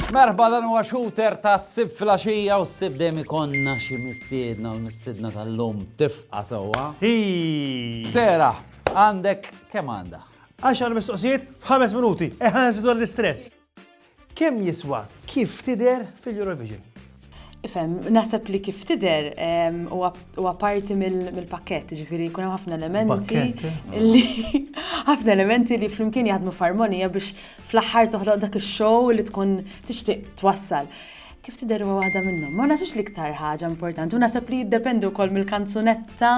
Merħba dan huwa shooter ta' sib flaxija u sib dejjem ikonna xi mistiedna u mistiedna tal-lum tifqa sewwa. Sera, għandek kemm għandha? Għaxar mistoqsijiet f'ħames minuti, eħan zidu l-istress. Kemm jiswa Kif Tidher fil-Eurovision? Ifhem, naħseb li kif tidher ehm, huwa parti mill-pakkett, ġifieri jkun hemm ħafna elementi li ħafna elementi li flimkien jaħdmu f'armonija biex fl-aħħar toħloq dak ix-show li tkun tixtieq twassal kif tidher huwa waħda minnhom. Ma nasibx li iktar ħaġa importanti, u naħseb li jiddependi wkoll mill-kanzunetta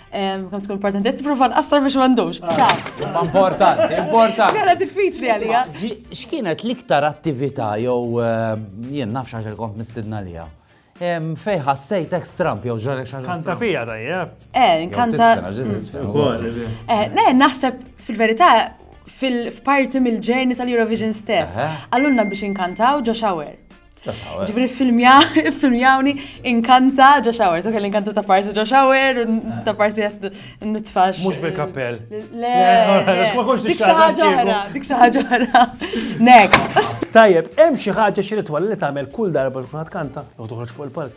Kom tkun importanti, qed tipprova nqassar biex m'għandux. Ah. Importanti, importanti. Kara diffiċli għalija. X'kienet l-iktar attività jew eh, jien nafx għax il-kont mistidna lija? Fej ħassejt ex Trump jew ġarek xaġa. Kanta fija tajja. Eh, kanta. Eh, ne, naħseb fil-verità fil-parti mill-ġeni tal-Eurovision stess. Għallunna biex inkantaw ġo shower. Ġifri filmjawni inkanta ġo xawers, ok, l-inkanta ta' parsi ġo xawer, ta' parsi jast nitfax. Mux bil-kappell. Le, ma kux dik xaħġa ħra, dik xaħġa ħra. Next. Tajjeb, hemm xi ħaġa xi ritwal li tagħmel kull darba tkun kanta jew toħroġ fuq il-palk.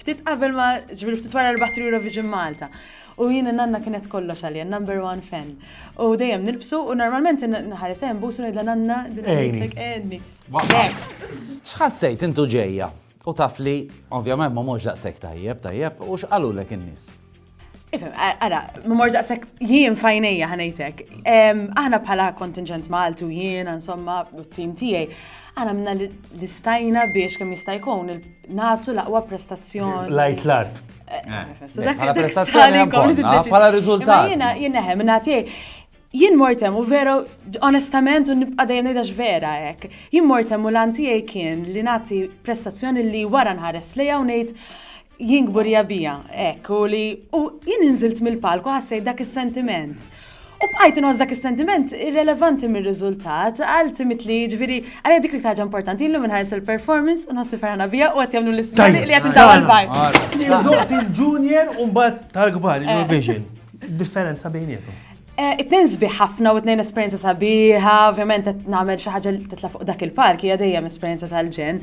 Ftit qabel ma, ġviri ftit wara li baħtri Eurovision Malta. U jina nanna kienet kollox għalija, number one fan. U dejjem nilbsu u normalment nħares hemm busu ngħidla nanna dinajtek enni. X'ħassejt intu ġejja u taf li ovvjament ma morx daqshekk tajjeb tajjeb u x'qalulek in-nies? Ifem, ara, mor daqsek jien fajnija ħanejtek. Aħna bħala kontingent Malti u jien, insomma, u t-tim tijaj, għana minna l-istajna biex kem jistajkun natu laqwa prestazzjoni. Lajt l-art. Għala prestazzjoni għala rizultat. Jena, jena, minna tijaj, jien mortem u vera, onestament, u nibqa dajem nejdax vera ek. Jien mortem u l-antijaj kien li nati prestazzjoni li wara nħares li għaw nejt Jien kburija bija, hekk, u li u jien inżilt mill-palku ħassejt dak is-sentiment. U bqajt inħoss dak is-sentiment irrelevanti mir-riżultat, għal timit li ġviri, għalja dik li ħaġa importanti, illu minnħares il-performance, u nħossi ferħana bija u għat jamlu l-istani li għat nżaw għal-bar. Li doqt il-junior un bat tal-gbar, il-vision. Differenza bejnietu. Eh, it-tnejn sbieħ ħafna u it-tnejn esperjenza sabiħa, ovvjament qed nagħmel xi ħaġa li titla' fuq dak il-park hija dejjem esperjenza tal-ġen.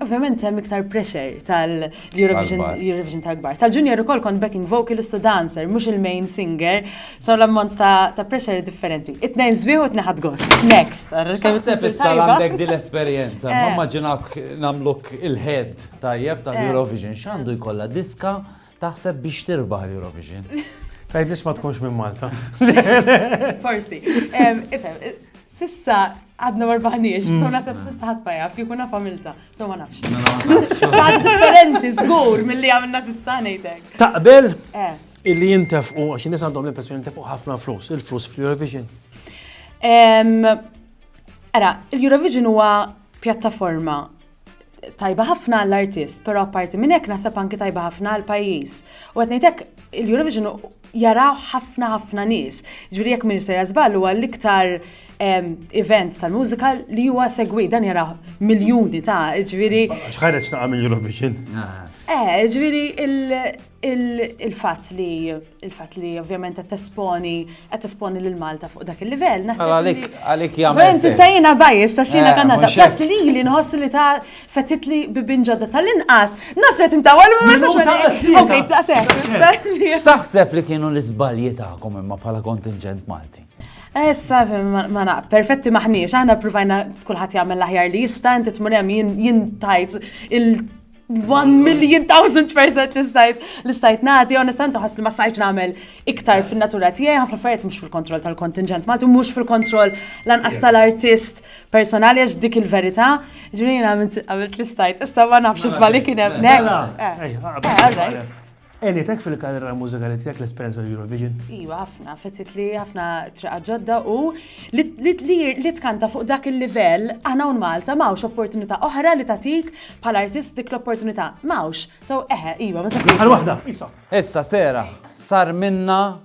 Ovvjament hemm iktar pressure tal-Eurovision tal-kbar. Tal-junior ukoll kont backing vocalist u dancer, mhux il-main singer, so l-ammont ta' pressure differenti. It-tnejn sbieħ u tneħad gost. Next. Sepp issa għandek din l-esperjenza, ma eh. immaġinawk nagħmluk il-head tajjeb tal-Eurovision eh. x'għandu jkollha diska Taħseb biex tirbaħ l-Eurovision? Tgħidlix ma tkunx minn Malta. Forsi. Ifhem, sissa għadna marbaħniex, mm. so nasab sissa ħadd ma jaf, kieku naf għamilta, so ma nafx. Għad differenti, żgur, mill-li għamilna sissa ngħidek. Taqbel? Eh. Illi jintefqu, għax nis għandhom l-impressjoni jintefqu ħafna flus, il-flus fl-Eurovision. Ara, l-Eurovision huwa pjattaforma tajba ħafna għall-artist, pero apparti minn hekk naħseb anki tajba ħafna għall-pajjiż. U qed ngħidlek il-Eurovision jaraw ħafna ħafna nies. Ġifieri jekk minn sejja żball huwa l-iktar ehm, event tal-mużika li huwa segwi dan jaraw miljuni ta' ġifieri. Ħareġ naqa' mill-Eurovision. Ah. Eh, ġifieri il-fatt li il-fatt li ovvjament qed tesponi qed tesponi lil Malta fuq dak il-livell naħseb. Għalik għalik jagħmel. Inti sejna bajis ta' xina eh, Kanada. Bas li li nħoss li ta' fetit li bibin ġodda tal-inqas naf li tinta għal ma Okej, ta' seħ. X'taħseb li kienu l-iżbalji tagħkom imma bħala kontingent Malti? Issa, ma naq, perfetti maħniex, aħna provajna kullħat jagħmel l-aħjar li jista, inti tmur hemm jien tajt il- One million thousand percent li stajt li stajt nagħti, onestament ħass li ma stajtx nagħmel iktar fin-natura tiegħi, ħafna affarijiet mhux fil-kontroll tal-kontingent Malti, mhux fil-kontroll lanqas tal-artist personali għax dik il-verità. Ġifieri għamilt li stajt, issa ma nafx isma' li kien hemm. Mela. Eh, eh, eh, Għenitk fil-karriera mużikali tiegħek l-esperjenza l-Eurovision? Iva, ħafna, fettit li ħafna triqa ġodda u li tkanta fuq dak il-livell aħna un Malta mawx opportunità oħra li tatik bħal artist dik l-opportunità. Mawx, so eħe, iva, ma Għal waħda, Issa sera, sar minna